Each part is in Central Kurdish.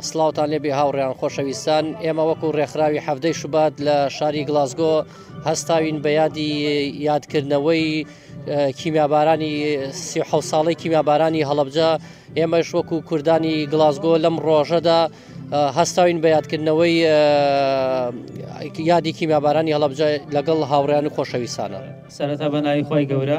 سڵاوتان لێبێ هاوڕێیان خۆشەویستان ئێمە وەکو ڕێکخراوی حەفتەی شوبات لە شاری گلاسگۆ هەستاوین بە یادی یادکردنەوەی کیمیابارانی سیح ساڵی کیمیابارانی هەڵبجە ئێمەش وەکو کوردانی گلاسگۆ لەم ڕۆژەدا هەستاوین بە یادکردنەوەی یادی کیمیابارانی هەڵبجە لەگەڵ هاوڕیان و خۆشەویستانە سەرەتا بەناوی خۆی گەورە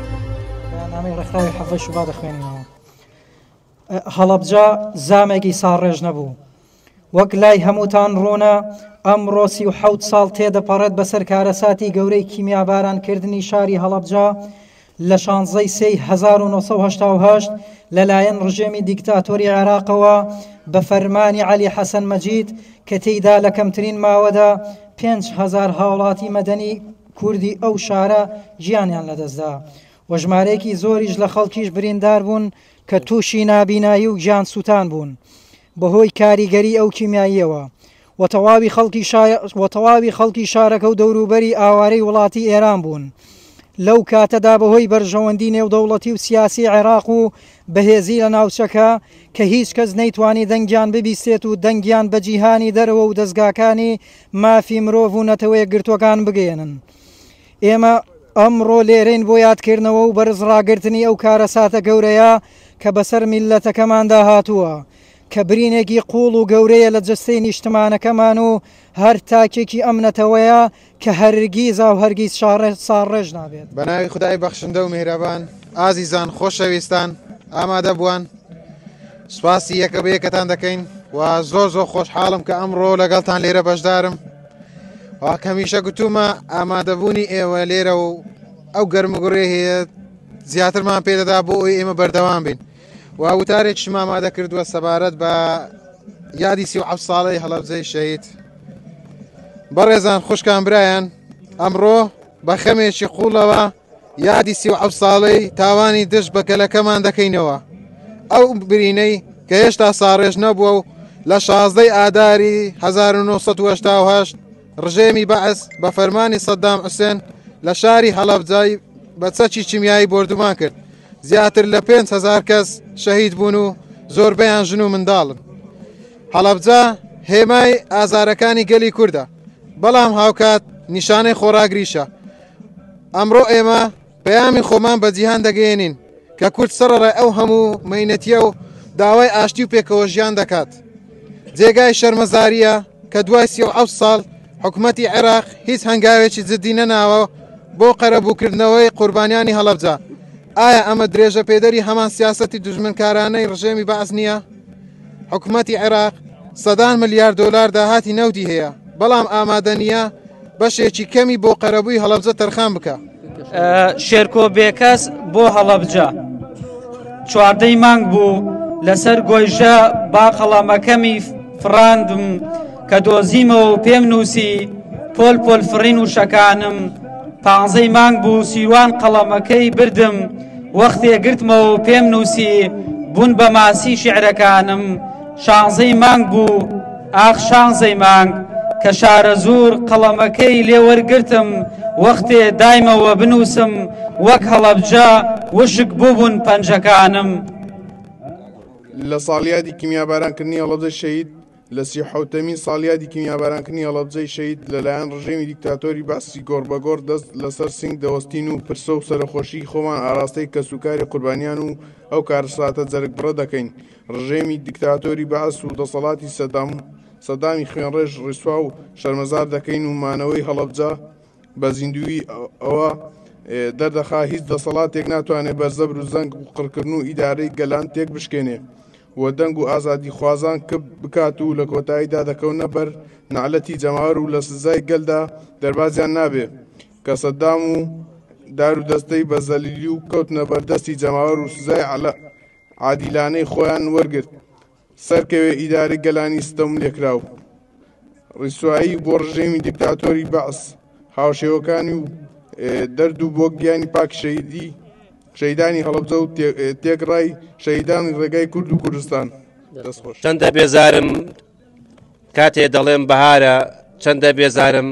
بەیاننامەی ڕێکخراوی حەڤەی شوبات دەخوێنینەوە. هەڵەبجە زامێکی ساڕێژ نەبوو. وەک لای هەمووتان ڕوونە ئەمڕۆ سی و حەوت ساڵ تێدەپەڕێت بەسەر کارەساتی گەورەی کیمیابارانکردنی شاری هەڵەبجە لە شانزەی سێی 1970 لەلایەن ڕژێمی دیکتاتۆری عێراقەوە بە فەرمانی عەلی حەسەن مەجید کە تێیدا لە کەمترین ماوەدا 5 هەزار هاوڵاتی مەدەنی کوردی ئەو شارە گیانیان لەدەستدا و ژمارەیەکی زۆریش لە خەڵکیش بریندار بوون کە تووشی نابینایی و گیان سووتان بوون بەهۆی کاریگەری ئەو کیمیاییەوە و تەواوی خەڵکی شای و تەواوی خەڵکی شارەکە و دەوروبەری ئاوارەی وڵاتی ئێران بوون لەو کاتەدا بەهۆی بەرژەوەندی نێودەوڵەتی و سیاسی عێراق و بەهێزی لە ناوچەکە کە هیچ کەس نەیتوانی دەنگیان ببیستێت و دەنگیان بە جیهانی دەرەوە و دەستگاکانی مافی مرۆڤ و نەتەوەیەکگرتووەکان بگەیەنن. ئێمە ئەمڕۆ لێرەین بۆ یادکردنەوە و بەرزڕاگرتنی ئەو کارەساتە گەورەیە کە بەسەر میللەتەکەماندا هاتووە، کە برینێکی قووڵ و گەورەیە لە جەستەی نیشتمانەکەمان و هەر تاکێکی ئەم نەتەوەیە کە هەرگیز و هەرگیز ساڕێژ نابێت. بە ناوی خودای بەخشندە و میهرەبان. ئازیزان، خۆشەویستان، ئامادەبووان. سوپاسی یەکە بە یەکەتان دەکەین و زۆر زۆر خۆشحاڵم کە ئەمڕۆ لەگەڵتان لێرە بەشدارم واکەمیشە گوتومە ئامادەبوونی ئێوە لێرە و ئەو گەرمگوڕێ هەیە زیاترمان پێدەدا بۆ ئەوی ئێمە بەردەوام بین و وتارێکش مامادە کردووە سەبارەت بە یادی سی و ساڵی هەڵەبزەی شەید بەڕێزان خوشکان برایان ئەمڕۆ بە خەمێکی قوڵەوە یادی سی و حەوت ساڵەی تاوانی دژ بە گەلەکەمان دەکەینەوە ئەو برینەی کە هێشتا ساڕێژ نەبووە و لە شازدەی ئاداری 1970 ڕژێمی بەعس بە فەرمانی سەددام حوسێن لە شاری هەڵەبجای بە چەکی چیمیایی بردومان کرد زیاتر لە 5هزار کەس شەهید بوون و زۆربەیان ژن و منداڵن هەڵەبجا هێمای ئازارەکانی گەلی کووردە بەڵام هاوکات نیشانەی خۆراگریشە ئەمڕۆ ئێمە پەیامی خۆمان بە جیهان دەگەیەنین کە کورد سەرڕای ئەو هەموو مەینەتیە و داوای ئاشتی و پێکەوە ژیان دەکات جێگای شەرمەزاریە کە دوای سی و ساڵ حکوومەتی عێراق هیچ هەنگاوێکی جددی نەناوە بۆ قەرەبووکردنەوەی قوربانیانی هەڵەبجە ئایا ئەمە درێژە پێدەری هەمان سیاستی دژمنکارانەی ڕژێمی بەعس نییە؟ حکومەتی عێراق سەدان ملیار دۆلار داهاتی نەوتی هەیە، بەڵام ئامادە نییە بەشێکی کەمی بۆ قەرەبووی هەڵەبجە تەرخان بکا. شێرکۆ بێکەس بۆ هەڵەبجە چواردەی مانگ بوو لەسەر گۆیژە با قەڵەمەکەمی فڕاندم کە دۆزیمەوە و پێم نووسی پۆل پۆل فڕین وشەکانم پانزەی مانگ بوو سیروان قەڵەمەکەی بردم وەختێ گرتمەوە پێم نووسی بوون بە ماسی شعرەکانم شانزەی مانگ بوو ئاخ شانزەی مانگ کە شارە زۆر قەڵەمەکەی لێوەرگرتم وەختێ دایمەوە بنووسم وەک هەڵەبجە وشک بووبوون پەنجەکانم لە ساڵیادی کیمیابارانکردنی هەڵەبجە شەید لە سی و حەوتەمین ساڵیادی کیمیابارانکردنی هەڵەبجەی شەهید لە لایەن ڕژێمی دیکتاتۆری بەعسی گۆڕ بە گۆڕ دەست لە سەر سینگ دەوەستین و پرسە و سەرەخۆشیی خۆمان ئاراستەی کەس و کاری قوربانیان و ئەو کارەساتە جەرگبڕە دەکەین ڕژێمی دیکتاتۆری بەعس و دەسەڵاتی سەدام سەدامی خوێنڕێژ ڕیسوا و شەرمەزار دەکەین و مانەوەی هەڵەبجە بە زیندوویی ئەوە دەردەخا هیچ دەسەڵاتێک ناتوانێ بەر زەبر و زەنگ و قڕکردن و ئیدارەی گەلان تێکبشکێنێ و دەنگ و ئازادیخوازان کپ بکات و لە کۆتاییدا دەکەونە بەر نەعلەتی جەماوەر و لە سزای گەلدا دەربازیان نابێ کە سەدام و دار و دەستەی بە زەلیلی و کەوتنە بەر دەستی جەماوەر و سزای عادیلانەی خۆیان وەرگرت سەرکەوێ ئیدارەی گەلانی ستەم لێکراو. ڕیسوایی بۆ ڕژێمی دیکتاتۆری بەعس هاوشێوەکانی و دەرد و بۆ گیانی پاک شەیدی شەیدانی هەڵەبجە و تێکڕای شەیدانی ڕێگای کورد و کوردستان دەستخۆش چەندە بێزارم کاتێ دەڵێم بەهارە چەندە بێزارم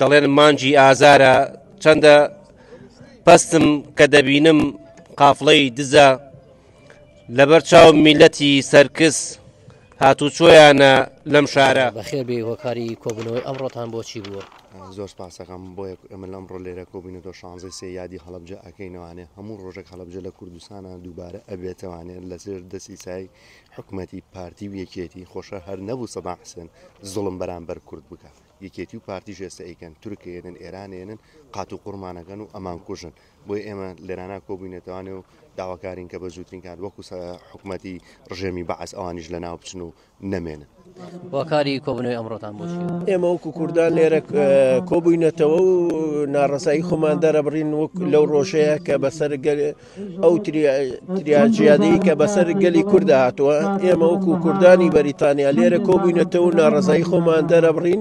دەڵێن مانجی ئازارە چەندە پستم کە دەبینم قافڵەی دزە لەبەرچاو میلەتی سەرکس هاتوچۆیانە لەم شارە. بەخێر بێی هۆکاری کۆبوونەوەی ئەمڕۆتان بۆچی بووە؟ زۆر سپاسەکەم بۆ یەک ئەمە لەم ڕۆ لێرە کۆبووینە دۆ شانزەی سێ یادی هەڵبجە ئەکەینەوانێ هەموو ڕۆژێک هەڵبجە لە کوردستانە دووبارە ئەبێتەوانێت لەسێر دەسی سای حکوومەتی پارتی و یەکێتی خۆشە هەر نەبوو سەدا حسێن زڵم بەرامبەر کورد بکە یەکێتی و پارتی ژێستە ئەیکەن تورکێنن ئێرانێنن قات و قڕمانەکەن و ئەمان کوژن بۆیە ئێمە لێرانە کۆبووینەتەوانێ و داواکارین کە بە زووترین کات وەکو حکوومەتی ڕژێمی بەعس ئەوانیش لە ناو بچن و نەمێنن واکاری کۆبنەوەی ئەمڕۆتان بۆ ئێمە وەکو کوردان لێرە کۆبووینەتەوە و ناڕزایی خۆمان دەرەبڕین وەک لەو ڕۆژەیە کە بەسەر ئەو تریاجیادی کە بەسەر گەلی کووردا هاتووە ئێمە وەکو کوردانی بەریتانیا لێرە کۆبووینەتەوە ناڕزایی خۆمان دەرەبڕین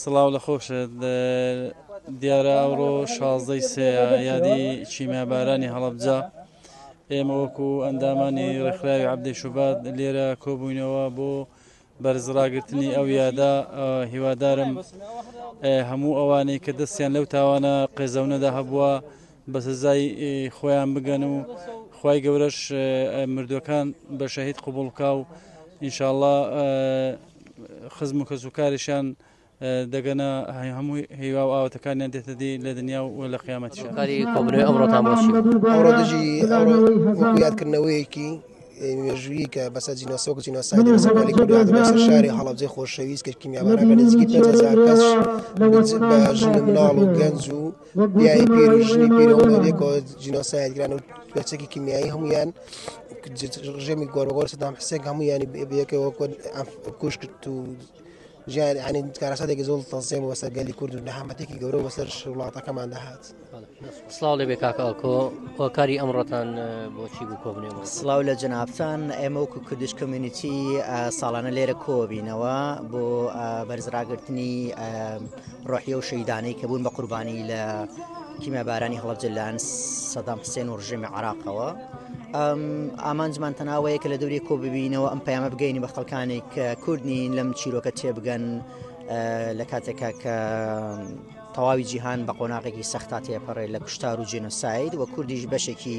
سڵاو لە خۆشت دیارە ئەوڕۆ شازدەی سەیە یادی چیمابارانی هەڵەبجە ئێمە وەکو ئەندامانی ڕێکخراوی عبدی شوبات لێرە کۆبووینەوە بۆ بەرزڕاگرتنی ئەو یادا هیوادارم هەموو ئەوانەی کە دەستیان لەو تاوانە قێزەونەدا هەبووە بە سزای خۆیان بگەن و خی گەورەش مردوەکان بە شەهید قوبڵکا و ئینشاءله خزم و کەس و کارشان دەگەنە هەموو هیوا و ئاواتەکانیان دێتە دی لە دنیا و لە قیامەتی شکاری کۆبنەوەی ئەمڕۆتان بۆشی ئەمڕۆ دژی یادکردنەوەیەکی مێژووی کە بەسەر جینۆسۆک جینۆسایدی بەسەرانی کوردان بەسەر شاری هەڵەبجەی خۆشەویست کە کیمیابارە بە نزیکی پێ هزار کەس بە ژن و مناڵ و گەنج و پیاوی پیر و ژنی پیر هەموو لە لێکەوە جینۆساید کران و پێچەکی کیمیایی هەمویان ڕژێمی گۆربەگۆر سەدام حسێک هەمویانی بەیەکەوە کوش کرد و ژیان عنی کارەساتێکی زۆڵ تەزیێم وەسەر گەلی کورد و نەهامەتێکی گەورە وەسەر وڵاتەکەمان دەهات سلااو لێ بێ کاکەکۆ هۆکاری ئەمڕۆتان بۆچی بوو کۆبنێ سلااو لە جنابان ئێمە وکو کردش کمیونیتی ساڵانە لێرە کۆبینەوە بۆ بەرزراگرتنی ڕۆحی ئەو شەهیدانەی کە بوون بە قوربانی لە کیمیابارانی هەڵەبجە لەلایەن سەدام حسێن و ڕژێمی عراقەوە ئامانجمان تەناوەیە کە لە دەوری کۆ ببینەوە ئەم پەیامە بگەینی بە خەڵکانی کە کوردنی لەم چیرۆکە تێبگەن لە کاتێکا کە تەواوی جیهان بە قۆناغێکی سەختا تێپەڕێت لە کوشتار و جینۆساید و کوردیش بەشێکی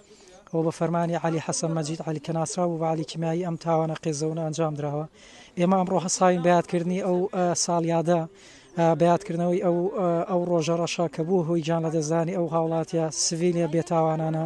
و بە فەرمانی عەلی حەسەن مەجید عەلی کە ناسراو بوو بە عەلی کیمیایی ئەم تاوانە قێزەونە ئەنجام دراوە. ئێمە ئەمڕۆ هەستاوین بە یادکردنی ئەو ساڵیادە بە یادکردنەوەی ئەو ئەو ڕۆژە ڕەشە کە بووە هۆی گیانلەدەستدانی ئەو هاوڵاتیە سڤیلە بێتاوانانە.